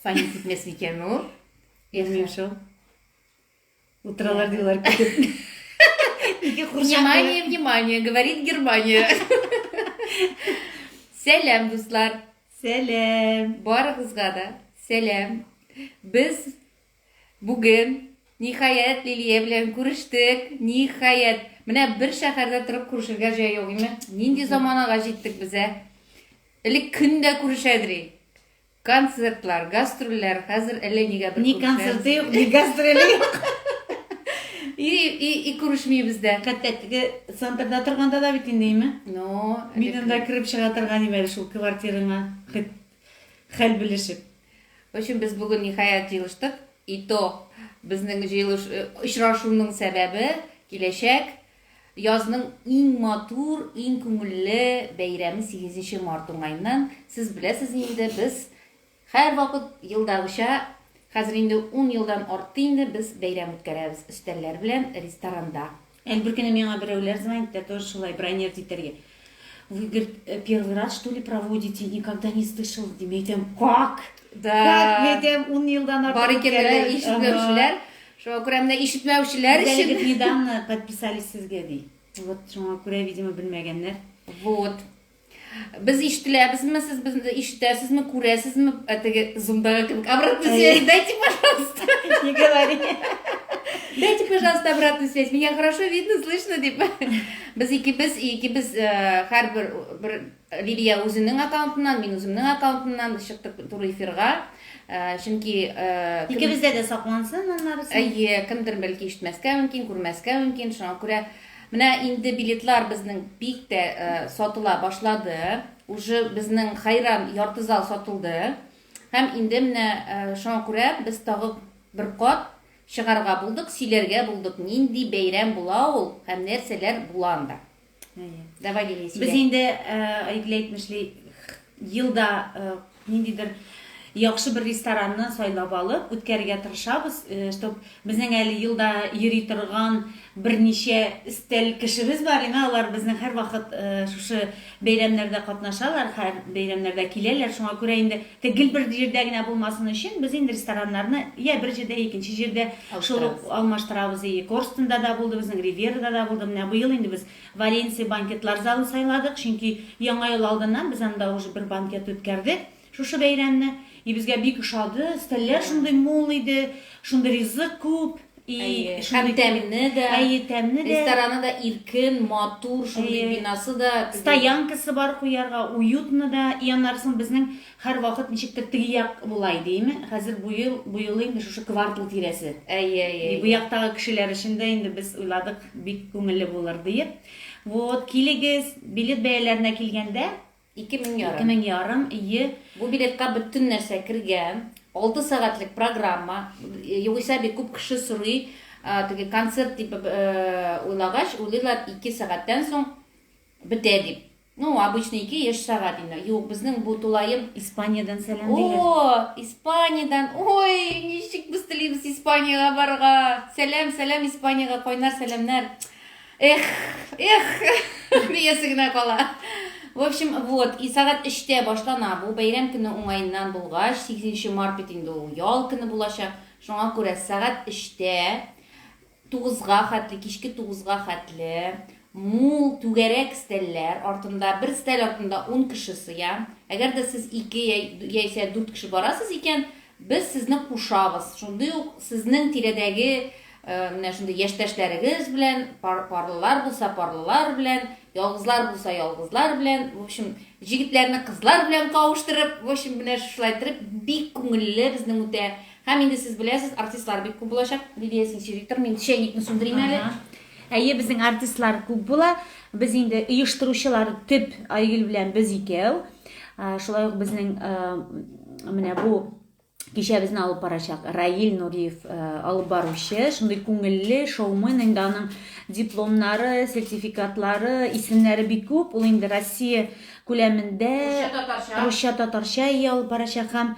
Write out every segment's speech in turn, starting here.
Саня китмәс микән ул? Белмим шул. Утыралар диләр көтеп. Ике курчак. Внимание, внимание, говорит Германия. Сәлам, дуслар. Сәлам. Барыгызга да сәлам. Без Бүген, ниһаять, Лилия белән күрештек, ниһаять. Менә бер шәһәрдә торып күрешергә җай юк, име? Нинди заманага җиттек без, ә? Элек көн дә күрешәдри. Концертлар, гастрольләр, хәзер әллә нигә бер Ни күрешәбез. концерты юк, ни гастроле юк. И, и, и күрешмибез дә. Хәтта теге центрда торганда да бит инде, име? Ну, Мин элек- анда кереп чыга торган идем әле шул квартираңа. Хет- Хәл белешеп. Өчен без бүген ниһаять җыелыштык. И то безнең җыелыш очрашуның сәбәбе киләчәк язның иң матур, иң күңелле бәйрәме сигезенче март уңаеннан. Сез беләсез инде, без һәрвакыт елдагыча, хәзер инде ун елдан артты инде без бәйрәм үткәрәбез өстәлләр белән ресторанда. Әле бер көнне миңа берәүләр звонит итә, тоже шулай бронировать итәргә. Вы, говорит, э, первый раз, что ли, проводите? Никогда не слышал. Дим, әйтәм, как? Да. Как? Мин әйтәм, ун елдан артык. Бар икәннәр, ишетмәүчеләр. Шуңа күрә менә ишетмәүчеләр өчен. Әлеге недавно подписались сезгә, ди. Вот, шуңа күрә, видимо, белмәгәннәр. Вот. Без ишетеләбезме, сез безне ишетәсезме, күрәсезме? Ә теге зумдагы кебек обратно связь дайте, пожалуйста. Не говори. Дайте, пожалуйста, обратную связь. Меня хорошо видно, слышно, дип. Без икебез, икебез һәрбер э, бер Лилия үзенең аккаунтыннан, мин үземнең аккаунтымнан чыктык туры эфирга. Э, чөнки э, икебездә дә саклансын аннары. Әйе, кемдер бәлки ишетмәскә мөмкин, күрмәскә мөмкин. Шуңа күрә Менә инде билетлар безнең бик тә сатыла башлады. Уже безнең Хайран ярты зал сатылды. Һәм инде менә шуңа күрә без тагы бер кат чыгарга булдык, сөйләргә булдык, нинди бәйрәм була ул һәм нәрсәләр була анда. Әйе. Давай, Лилия, сөйлә. Без инде, Айгөл әйтмешли, елда Ниндидер яхшы бер ресторанны сайлап алып үткәрергә тырышабыз, чтоб безнең әле елда йөри торган берничә өстәл кешебез бар име, алар безнең һәрвакыт шушы бәйрәмнәрдә катнашалар, һәр бәйрәмнәрдә киләләр, шуңа күрә инде гел бер җирдә генә булмасын өчен без инде рестораннарны йә бер җирдә, икенче җирдә шул ук алмаштырабыз. И Корстенда да булды, безнең Ривьерада да булды. Менә быел инде без Валенсия банкетлар залын сайладык, чөнки Яңа ел алдыннан без анда уже бер банкет үткәрдек, шушы бәйрәмне. И безгә бик ошады, өстәлләр шундый мул иде, шундый ризык күп, и Әйе, шундый һәм тәмне дә. Әйе, тәмне дә. Рестораны да иркен, матур, шундый бинасы да. Стоянкасы бар куярга, уютно да. И аннары соң безнең Һәрвакыт ничектер теге як була иде име, хәзер бу ел, бу юлы инде шушы квартал тирәсе. Әйе, әйе, әйе. Бу яктагы кешеләр өчен дә инде без уйладык, бик күңелле булыр диеп. Вот, килегез. Билет бәяләренә килгәндә. Ике мең ярым. Ике мең ярым, ие. Бу билетка бөтен нәрсә кергән. Алты сәгатьлек программа. Югыйсә бит күп кеше сорый, теге концерт дип уйлагач, уйлыйлар, ике сәгатьтән соң бетә дип. Ну, обычный ике яшь сәгать инде. Юк, безнең бу тулаем. Испаниядән сәлам диләр. О, Испаниядән. Ой, ничек без телибез Испаниягә барырга. Сәлам, сәлам Испаниягә, кайнар сәламнәр. Эх, эх, диясе генә кала. В общем, вот, и сәгать 3-тә башлана бу бәйрәм көне уңаеннан булгач, 8 март бит инде ул ял көне булачак. Шуңа күрә сәгать 3-тә Тугызга хәтле, кичке тугызга хәтле мул түгәрәк стәлләр артында, бер стәл артында ун кеше сыя. Әгәр дә сез ике яисә дүрт кеше барасыз икән, без сезне кушабыз. Шундый ук сезнең тирәдәге менә шундый яшьтәшләрегез белән, парлылар булса, парлылар белән, ялгызлар булса, ялгызлар белән, в общем, җегетләрне кызлар белән кавыштырып, в общем, менә шулай иттереп, бик күңелле, безнең үтә Һәм инде сез беләсез, артистлар бик күп булачак. Лилия Сенсюриктор, мин чәйникны сүндерим әле. Әйе, безнең артистлар күп була. Без инде оештыручылар төп Айгөл белән без икәү. Шулай ук безнең менә бу кичәбезне алып барачак Раил Нуриев э, алып баручы, шундый күңелле шоумен, инде аның дипломнары, сертификатлары, исемнәре бик күп. Ул инде Россия күләмендә русча татарча ия алып барачак һәм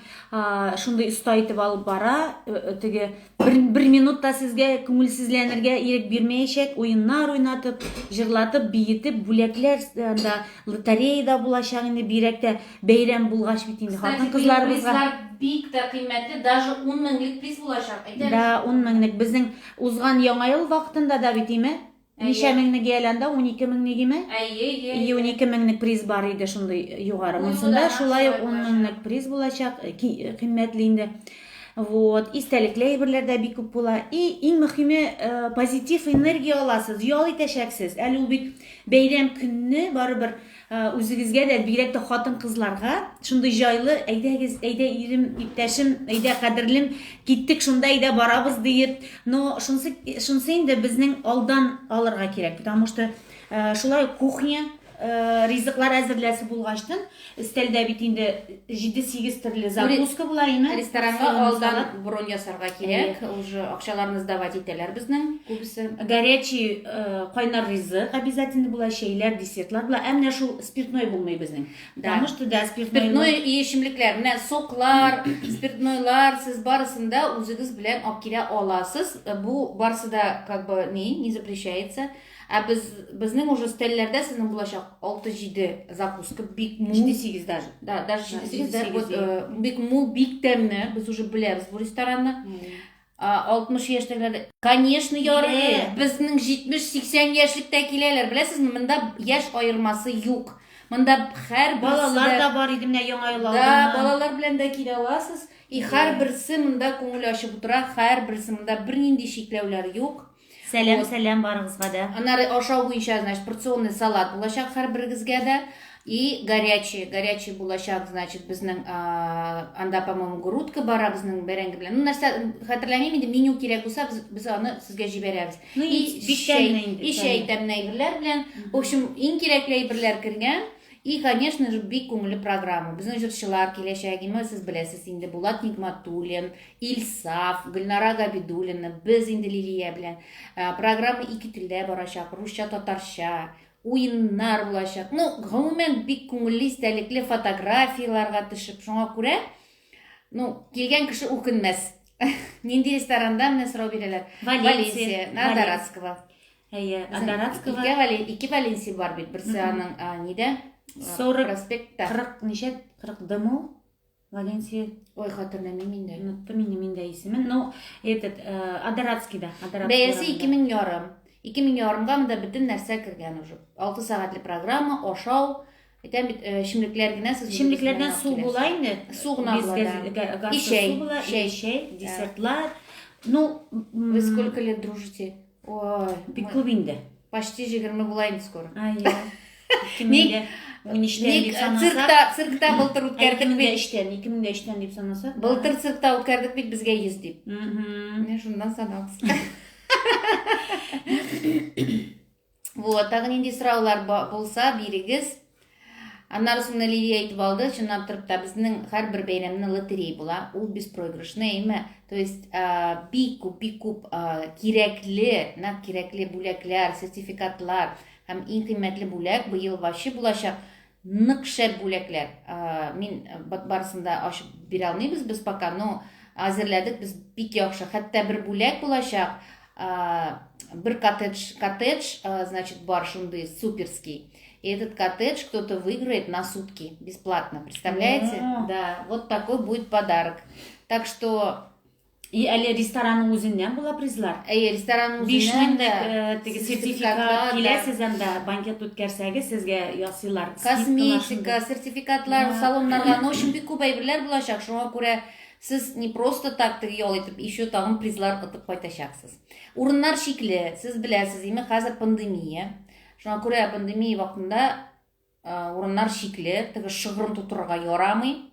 шундый оста итеп алып бара э, э, теге бер, бер минут та сезгә күңелсезләнергә ирек бирмәячәк уеннар уйнатып җырлатып биетеп бүләкләр э, да лотереяда булачак инде бигрәк тә бәйрәм булгач бит инде хатын кызларыбызга бик тә кыйммәтле даже ун меңлек приз булачак әйтәбез да ун меңлек безнең узган яңа ел вакытында да бит име Ничә меңне гияләнде? Унике меңне гиме? Әйе, әйе. И унике меңлек приз бар иде шундый югары. Монсында шулай ук ун меңлек приз булачак, э, э, кыйммәтле инде. Вот, истәлекле әйберләр дә бик күп була. И иң мөхиме э, позитив энергия аласыз, ял итәчәксез. Әле ул бит бәйрәм көнне барыбер Үзегезгә дә, бигрәк тә хатын-кызларга шундый җайлы, әйдәгез, әйдә ирем, иптәшем, әйдә кадерлем, киттек шунда, әйдә барабыз диеп. Но шунсы, шунсы инде безнең алдан алырга кирәк, потому что шулай кухня ризыклар әзерләсе булгачтын, өстәлдә бит инде Җиде-сигез төрле закуска була име? Ресторанга алдан бронь ясарга кирәк. Ул же акчаларны сдавать итәләр безнең күбесе. Горячий э, кайнар ризык обязательно була, чәйләр, десертлар була. Ә менә шул спиртной булмый безнең. Да. Потому что да, спиртной. Спиртной и эчемлекләр, менә соклар, спиртнойлар, сез барысын да үзегез белән алып килә аласыз. Бу барысы да как бы не, не запрещается. Ә без безнең уже стельләрдә сезнең булачак 6-7 закуска бик мул. 7-8 даже. Да, даже 7-8 да, вот, э, бик мул, бик тәмне. Без уже беләбез бу ресторанны. 60 яшьтәгеләр. Конечно, ярый. Безнең 70-80 яшьлектә киләләр. Беләсезме, монда яшь аермасы юк. Монда һәр балалар да бар иде менә яңа ел алдыннан. Да, балалар белән дә килә аласыз. И һәрберсе монда күңел ачып утыра, һәрберсе монда бернинди чикләүләр юк. Сәлам, вот. сәлам барыгызга да. Аннары ашау буенча, значит, порционный салат булачак һәрберегезгә дә. И горячий, горячий булачак, значит, безнең анда, по-моему, грудка бара безнең бәрәңге белән. Ну, нәрсә, хәтерләмим инде, меню кирәк булса, без, без аны сезгә җибәрәбез. Ну, и, и чәй, и чәй тәмле әйберләр белән. В общем, иң кирәкле әйберләр кергән. И, конечно же, бик күңелле программа. Безнең җырчылар киләчәк, именно сез беләсез инде, Булат Нигматуллин, Илсаф, Гөлнара Габидуллина, без инде Лилия белән. Ә, Программа ике телдә барачак, русча, татарча. Уеннар булачак. Ну, гомумән, бик күңелле, истәлекле фотографияләргә төшеп. Шуңа күрә, ну, килгән кеше үкенмәс. Нинди ресторанда менә сорау бирәләр? Валенсия. На Валенсия. Дарацкого. Әйе, Безнең Адаратского Ике, Вале- ике Валенсия бар бит. Берсе Мгм. аның а, нидә? А, 40, Проспектта. 40 ничә? 40 дыму? Валенсия. Ой, хатырламыйм инде. Оныттым инде мин дә исемен. Ну, этот, э, Адаратскийда. Бәясе 2000 ярым. 2000 ярымга монда бөтен нәрсә кергән уже. 6 сәгатьле программа, ашау, Әйтәм бит, эчемлекләр генә сез Эчемлекләрдән су була инде. Су гына була. И чәй, чәй, чәй, десертлар. Ну, вы сколько лет дружите? Ой, бик күп инде. Почти 20 була инде скоро. Айя. Ник? Ник циркта, циркта былтыр үткәрдек бит. 2003-тән, 2003-тән дип санасак. Былтыр циркта үткәрдек бит безгә 100 дип. Менә шуннан санагыз. Вот, тагын нинди сораулар булса, бирегез. Аннары соң Лилия әйтеп алды, чыннан торып та безнең һәрбер бәйрәмне лотерей була. Ул беспроигрышный, әйме. То есть бик күп, бик күп кирәкле, нәкъ кирәкле бүләкләр, сертификатлар һәм иң кыйммәтле бүләк быел вачы булачак нык шәп бүләкләр. Мин барысын да ачып бирә алмыйбыз без пока, но әзерләдек без бик яхшы. Хәтта бер бүләк булачак. Бир коттедж, коттедж, значит, бар шунды суперский. И этот коттедж кто-то выиграет на сутки бесплатно, представляете? А. Да, вот такой будет подарок. Так что И әле ресторанның үзеннән була призлар. Әйе, ресторанның үзеннән дә теге сертификат килә сездән дә банкет үткәрсәгез сезгә ясыйлар. Косметика, сертификатлар, салоннарга, ну өчен бик күп әйберләр булачак. Шуңа күрә Сез не просто так теге ял итеп, еще тагын призлар отып кайтачаксыз. Урыннар чикле, сез беләсез, име хәзер пандемия. Шуңа күрә пандемия вакытында урыннар чикле, теге шыгрым тутырырга ярамый.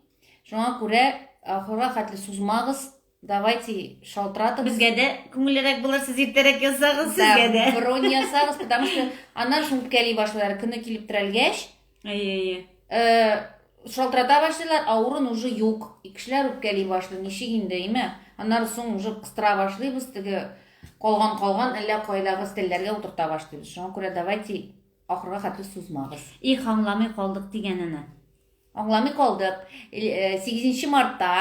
Шуңа күрә ахырга хәтле сузмагыз, давайте шалтыратып. Безгә дә күңеллерәк булыр, сез иртәрәк язсагыз, сезгә дә. Бронь ясагыз, потому что аннан шуң үпкәли башлар, көне килеп терәлгәч, Әйе, әйе. Э, шалтырата башлыйлар, ә урын уже юк. И кешеләр үпкәли башлый, ничек инде, име? Аннары соң уже кыстыра башлыйбыз, теге калган калган әллә кайдагы стелләргә утырта башлыйбыз. Шуңа күрә давайте ахырга хәтле сузмагыз. Их, аңламый калдык дигәнене. Аңламый калдык. 8 э, мартта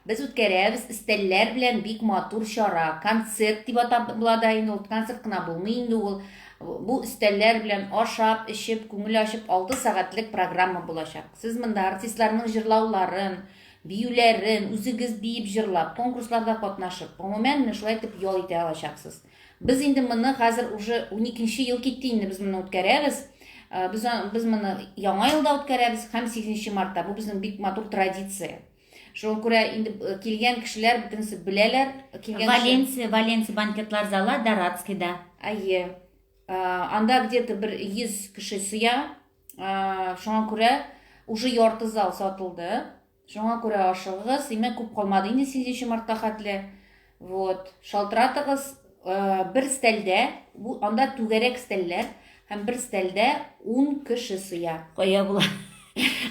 без үткәрәбез стелләр белән бик матур чара. Концерт дип атап була да инде ул. Концерт кына булмый инде ул. Бу өстәлләр белән ашап, эчеп, күңел ачып алты сәгатьлек программа булачак. Сез монда артистларның җырлауларын, биюләрен, үзегез биеп җырлап, конкурсларда катнашып, гомумән, менә шулай итеп ял итә алачаксыз. Без инде моны хәзер уже уникенче ел китте инде без моны үткәрәбез. Без, без моны яңа елда үткәрәбез һәм 8 мартта. Бу безнең бик матур традиция. Шуңа күрә инде э, килгән кешеләр бөтенесе беләләр. Килгән Валенсия, Валенсия банкетлар залы Дорадскийда. Әйе. Э, анда где-то бер 100 кеше сыя. Э, шуңа күрә уже ярты зал сатылды. Шуңа күрә ашыгыгыз. Димәк, күп калмады инде 8 мартка хәтле. Вот, шалтыратыгыз э, бер стәлдә, бу анда түгәрәк стәлләр һәм бер стәлдә 10 кеше сыя. Кая була?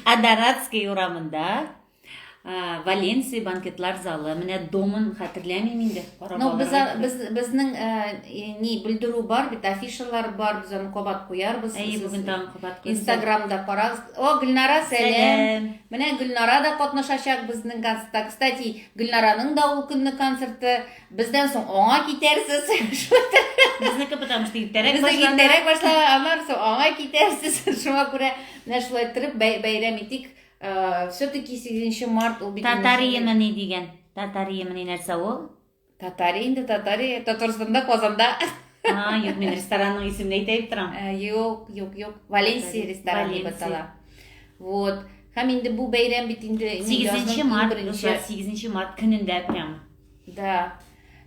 Адаратский урамында э, Валенсия банкетлар залы. Менә домын хәтерләмим инде. Ну, без без безнең э, ни белдерү бар бит, афишалар бар, без аны кабат куярбыз. Әйе, бүген тагын кабат куябыз. Инстаграмда карагыз. О, Гөлнара, сәлам. Менә Гөлнара да катнашачак безнең концертта. Кстати, Гөлнараның да ул көнне концерты. Бездән соң аңа китәрсез. Безнеке потому что иртәрәк Безнеке башлана. иртәрәк башлана, аннан соң аңа китәрсез. Шуңа күрә менә шулай торып бәй- бәйрәм итик. Э, Все-таки 8 март ул бит Татариемы ни дигән? Татариемы ни нәрсә ул? Татария инде татария. Татарстанда, Казанда. А, юк, мин ресторанның исемен әйтә дип торам. Э, юк, юк, юк. Валенсия рестораны дип атала. Вот. Һәм инде бу бәйрәм бит инде 8 март, 8 март көнендә прям. Да.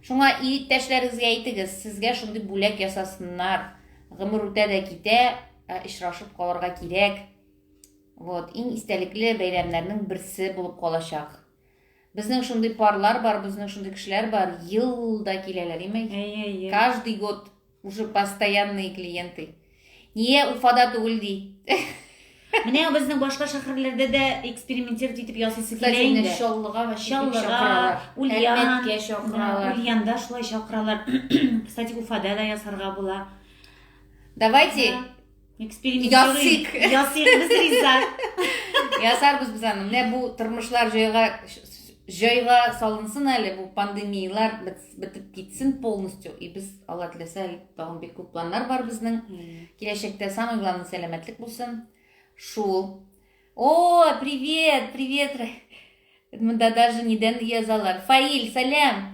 Шуңа иптәшләрегезгә әйтегез, сезгә шундый бүләк ясасыннар. Гомер үтә дә китә, ә очрашып калырга кирәк. Вот, иң истәлекле бәйрәмнәрнең берсе булып калачак. Безнең шундый парлар бар, безнең шундый кешеләр бар, елда киләләр, имей. Әйе, әйе. Каждый год уже постоянные клиенты. Ние Уфада түгел ди. Менә безнең башка шәһәрләрдә дә экспериментировать итеп ясыйсы килә инде. Кстати, Чаллыга ва Чаллыга, Ульян, Ульянда шулай чакыралар. Кстати, Уфада да ясарга була. Давайте Ясыйк. Ясыйк без риза. Ясарбыз без аны. Менә бу тормышлар җайга җайга салынсын әле бу пандемиялар бетеп китсен полностью и без алла теләсә тагын бик күп планнар бар безнең киләчәктә самое главное сәламәтлек булсын шул о привет привет мында даже недән язалар фаил сәлам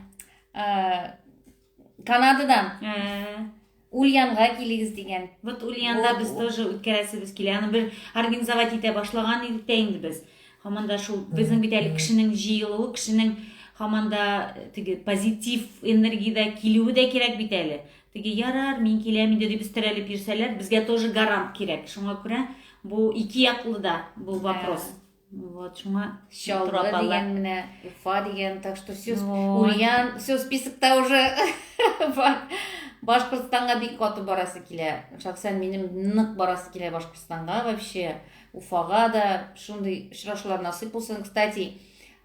Канададан. Ә. Ульянга килегез дигән. Вот Ульянда без тоже үткәрәсебез килә. Аны бер организовать итә башлаган идек тә инде без. Һаман да шул безнең бит әле кешенең җыелуы, кешенең һаман да теге позитив энергиядә килүе дә кирәк бит әле. Теге ярар, мин киләм инде дип терәлеп йөрсәләр, безгә тоже гарант кирәк. Шуңа күрә бу ике яклы да бу вопрос. Вот, шуңа Чаллы дигән менә, Уфа дигән, так что все, вот. Ульян, все списокта уже бар. Башкортстанга бик каты барасы килә. Шәхсән минем нык барасы килә Башкортстанга вообще. Уфага да шундый очрашулар насыйп булсын. Кстати,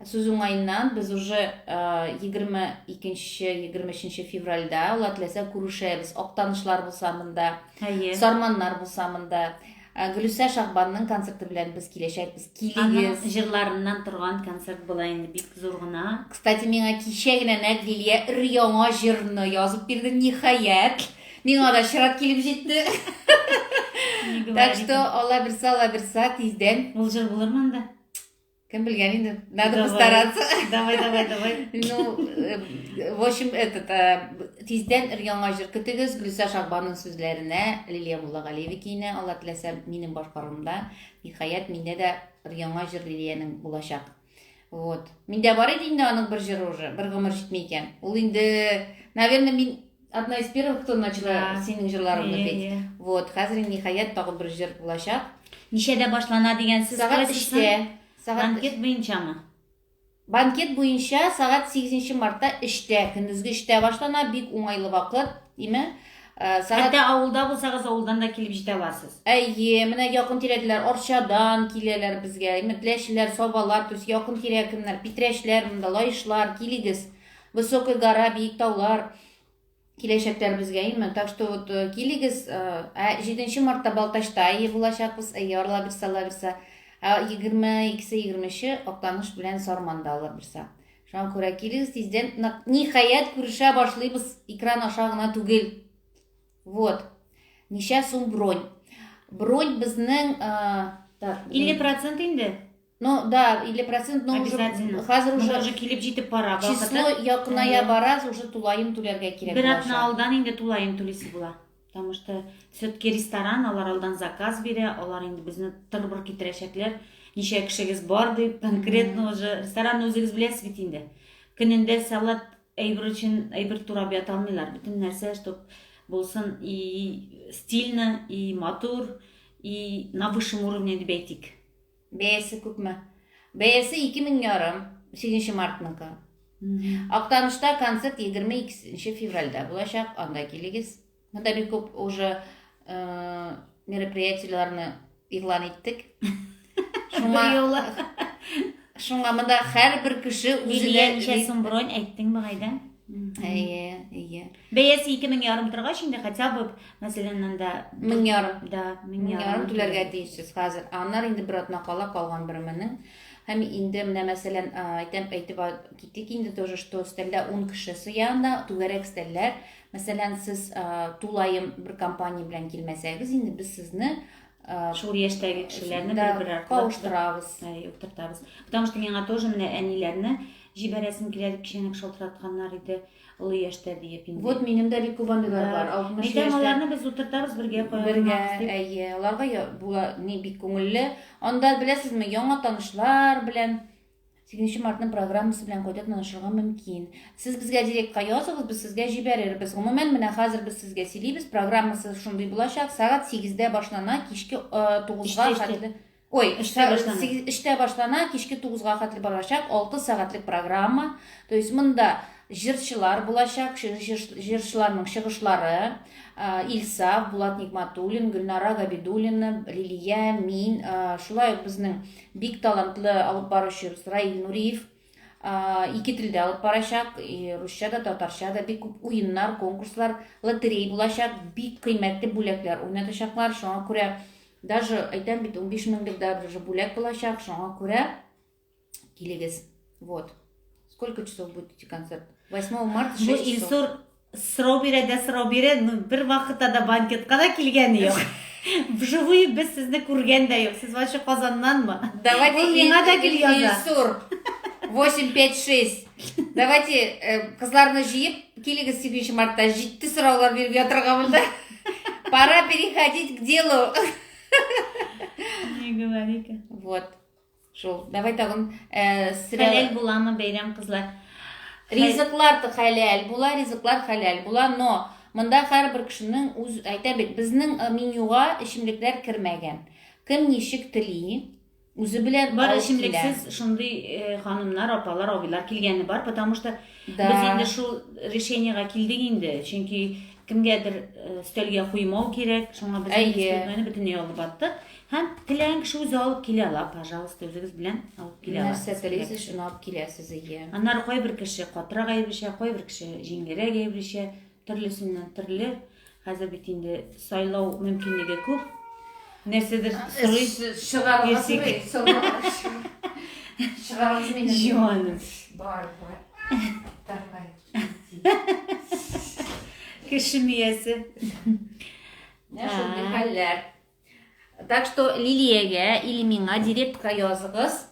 сүз уңаеннан без уже 22-23 февральдә ул теләсә күрешәбез. Актанышлар булса монда, Сарманнар булса монда. Ә Гөлүсә Шагбанның концерты белән без киләчәкбез. Аның Килегез. җырларыннан торган концерт була инде бик зур гына. Кстати, миңа кичә генә нәкъ Лилия өр-яңа җырны язып бирде, ниһаять. Миңа да чират килеп җитте. Не Так говори что, так. алла бирса, алла бирса, тиздән. Ул җыр булырмы анда? Кем белгән инде, надо постараться. Давай, давай, давай. Ну, э, в общем, этот, э, тиздән ир яңа җыр көтегез, Гөлсә Шагбаның сүзләренә, Лилия Муллагалиева киенә, Алла теләсә, минем башкарымда. Ниһаять, миндә дә ир яңа җыр Лилиянең булачак. Вот. Миндә бар иде инде аның бер җыры уже, бер гомер җитми икән. Ул инде, наверное, мин Одна из первых, кто начала синең җырларыңны бит. Вот, хәзер ниһаять тагы бер җыр булачак. Ничәдә башлана дигән сүз Сәгать 3-тә. Сәгать банкет буенчамы? Банкет буенча сәгать 8 мартта 3-тә, көндезге 3-тә башлана, бик уңайлы вакыт, диме? Э, сәгать... Хәтта авылда булсагыз, авылдан да килеп җитә аласыз. Әйе, менә якын тирәләр Арчадан киләләр безгә. Иметләшләр, Сабалар, то есть якын тирә кемнәр, Питрәчләр, монда Лаешлар, килегез. Высокая гора, биек таулар, киләчәкләребезгә именно. Так что вот э, килегез, ә 7 мартта Балтачта әйе булачакбыз, әйе арла бирсә, ала бирсә. Ә 22-се 23-е Актаныш белән Сарманда ала бирсә. Шуңа күрә килегез тиздән. Ниһаять күрешә башлыйбыз, экран аша гына түгел. Вот. Ничә сум бронь? Бронь безнең, так, 50% инде. Но, да, или процент, но уже Обязательно. хәзер Менә уже уже килеп җитеп бара число вакыты. якыная Әйе. бараз, уже тулаем түләргә кирәк Бер атна булачак. алдан инде тулаем түлисе була. Потому что все-таки ресторан, алар алдан заказ бирә, алар инде безне тырбыр китерәчәкләр. Ничә кешегез бар дип, конкретно уже ресторанны үзегез беләсез бит инде. Көнендә салат әйбер өчен әйбер турап ята алмыйлар. Бөтен нәрсә, чтоб булсын и стильно, и матур, и на высшем уровне дип әйтик. Бәясе күпме? Бәясе ике мең ярым, сигезенче мартныкы. Актанышта концерт егерме икенче февральдә булачак, анда килегез. Монда бик күп уже э, мероприятиеләрне игълан иттек. Шуңа Быелы. шуңа монда һәрбер кеше Лилия үзенә ничә сум бронь әйттең быгайда? Әйе, әйе. Бәясе ике мең ярым торгач инде хотя бы, мәсәлән, анда мең ярым. Да, мең ярым түләргә тиешсез хәзер. Аннар инде бер атна кала калган бер меңнең. Һәм инде менә мәсәлән, әйтәм, әйтеп китик инде тоже, что стәлдә 10 кеше сыянда, түгәрәк стәлләр. Мәсәлән, сез тулаем бер компания белән килмәсәгез, инде без сезне шул яшьтәге кешеләрне бер-бер аркылы кавыштырабыз. Әй, утыртабыз. Потому что миңа тоже менә әниләрне җибәрәсем килә дип кичәнәк шалтыратканнар иде. Олы яшьтә диеп инде. Вот минем дә бик күп андыйлар да. бар. 60 яшьтә. Әйтәм, аларны без утыртабыз бергә кая. Бергә, әйе. Аларга була ни бик күңелле. Анда беләсезме, яңа танышлар белән 8 мартның программасы белән кайта танышырга мөмкин. Сез безгә директка языгыз, без сезгә җибәрербез. Гомумән, менә хәзер без сезгә сөйлибез, программасы шундый булачак. Сәгать 8-дә башлана, кичке 9-га хәтле. Ой, эштә башлана. Сигез, эштә башлана, кичке 9-га хәтле барачак, 6 сәгатьлек программа. То есть монда җырчылар булачак, җырчыларның чыгышлары, Ильса, Булат Никматуллин, Гөлнара Габидуллина, Лилия, мин, шулай ук безнең бик талантлы алып баручыбыз Раил Нуриев, ике телдә алып барачак, русча да, татарча да бик күп уеннар, конкурслар, лотерей булачак, бик кыйммәтле бүләкләр уйнатачаклар. Шуңа күрә даже әйтәм бит 15 меңлек дә даже бүләк булачак. Шуңа күрә килегез. Вот. Сколько часов будет идти концерт? 8 марта 6 часов. Илсур Сорау бирә дә сорау бирә, ну, бер вакытта да банкетка да килгәне юк. Вживую без сезне күргән дә юк. Сез вообще Казаннанмы? Давайте Ул миңа да гел яза. Илсур. 856. Давайте э, кызларны җыеп, килегез 7 мартта җитте сораулар биреп ятырга монда. Пора переходить к делу. Не говори-ка. Вот. Шул. Давай тагын э, срә... Хәләл буламы бәйрәм кызлар? Ризыклар да хәләл була, ризыклар хәләл була, но монда һәрбер кешенең үз әйтә бит, безнең э, менюга эчемлекләр кермәгән. Кем ничек тели, үзе белән бар эчемлексез шундый э, ханымнар, апалар, абыйлар килгәне бар, потому что да. без инде шул решениега килдек инде, чөнки кемгәдер э, өстәлгә куймау кирәк, шуңа без инде бөтенләй алып аттык. Һәм теләгән кеше үзе алып килә ала, пожалуйста, үзегез белән алып килә ала. Нәрсә телисез, шуны алып киләсез, ие. Аннары кайбер кеше катырак әйбешә, кайбер кеше җиңелрәк әйбешә, төрлесеннән төрле. Хәзер бит инде сайлау мөмкинлеге күп. Нәрсәдер сорыйсыз, чыгарыгыз мин, сорыгыз. Чыгарыгыз мине. Җуаным. Бар, бар. Давай. Кеше миясе. Нәрсә хәлләр? Так что Лилиягә или миңа директка языгыз.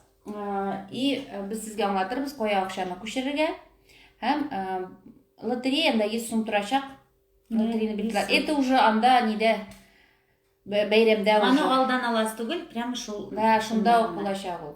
И без сезгә аңлатырбыз, кая акчаны күчерергә. Һәм лотереяда 100 сум торачак. Лотереяны билгеләп. Это уже анда нидә бәйрәмдә уже. Аны алдан аласы түгел, прямо шул. Да, шунда ук булачак ул.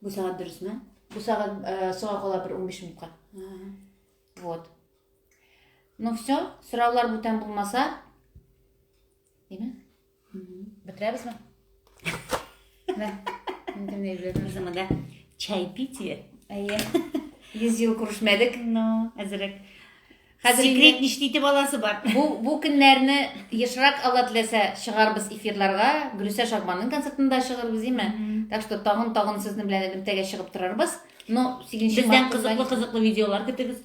Бу сәгать дөресме? Бу сәгать э, соңа кала бер 15 минутка. Вот. Ну все, сораулар бүтән булмаса, Дими? Бетребез ме? Да. Инде не беләм шуны да. Чай пить. Әйе. Йөз ел күрешмәдек, но әзрәк. Хәзер инде- Секрет ничти итеп аласы бар. Бу бу көннәрне ешрак Алла теләсә чыгарбыз эфирларга, Гөлүсә Шагманның концертында чыгырбыз име? Так что тагын тагын сезнең белән элемтәгә чыгып торырбыз. Но 8 Бездән март кызыклы кызлар- кызыклы видеолар көтегез.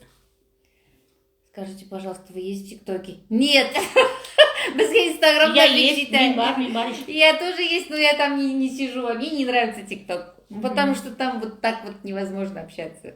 Скажите, пожалуйста, вы есть в ТикТоке? Нет. Безгә Инстаграм Я есть, мин бар, мин бар. Я тоже есть, но я там не, не сижу, а мне не нравится ТикТок. Потому что там вот так вот невозможно общаться.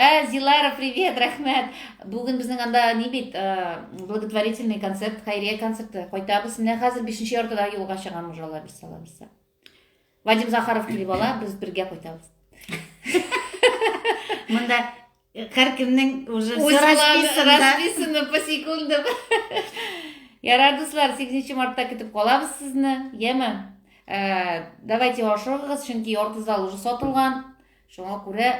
Ә, Зилара, привет, рәхмәт. Бүген безнең анда ни бит, э, благотворительный концерт, хәйрия концерты. Кайтабыз. Менә хәзер 5 нче яртыда юлга чыгам уже алла бирсә, алла бирсә. Вадим Захаров килеп ала, без бергә кайтабыз. Монда э, һәркемнең уже все расписано. Расписано по секундам. Ярар, дуслар, 8 мартта көтеп калабыз сезне. Яме. Э, давайте ашыгыгыз, чөнки ярты зал уже сатылган. Шуңа күрә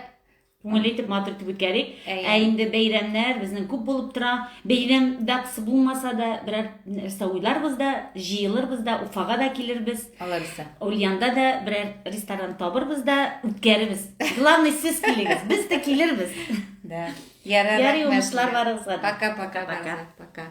күңелле итеп матур итеп үткәрик ә инде бәйрәмнәр безнең күп булып тора бәйрәм датасы булмаса да берәр нәрсә уйларбыз да җыелырбыз да уфага да килербез аларысы ульянда да берәр ресторан табырбыз да үткәрербез главный сез килегез без дә килербез да ярый уңышлар барыгызга пока пока пока пока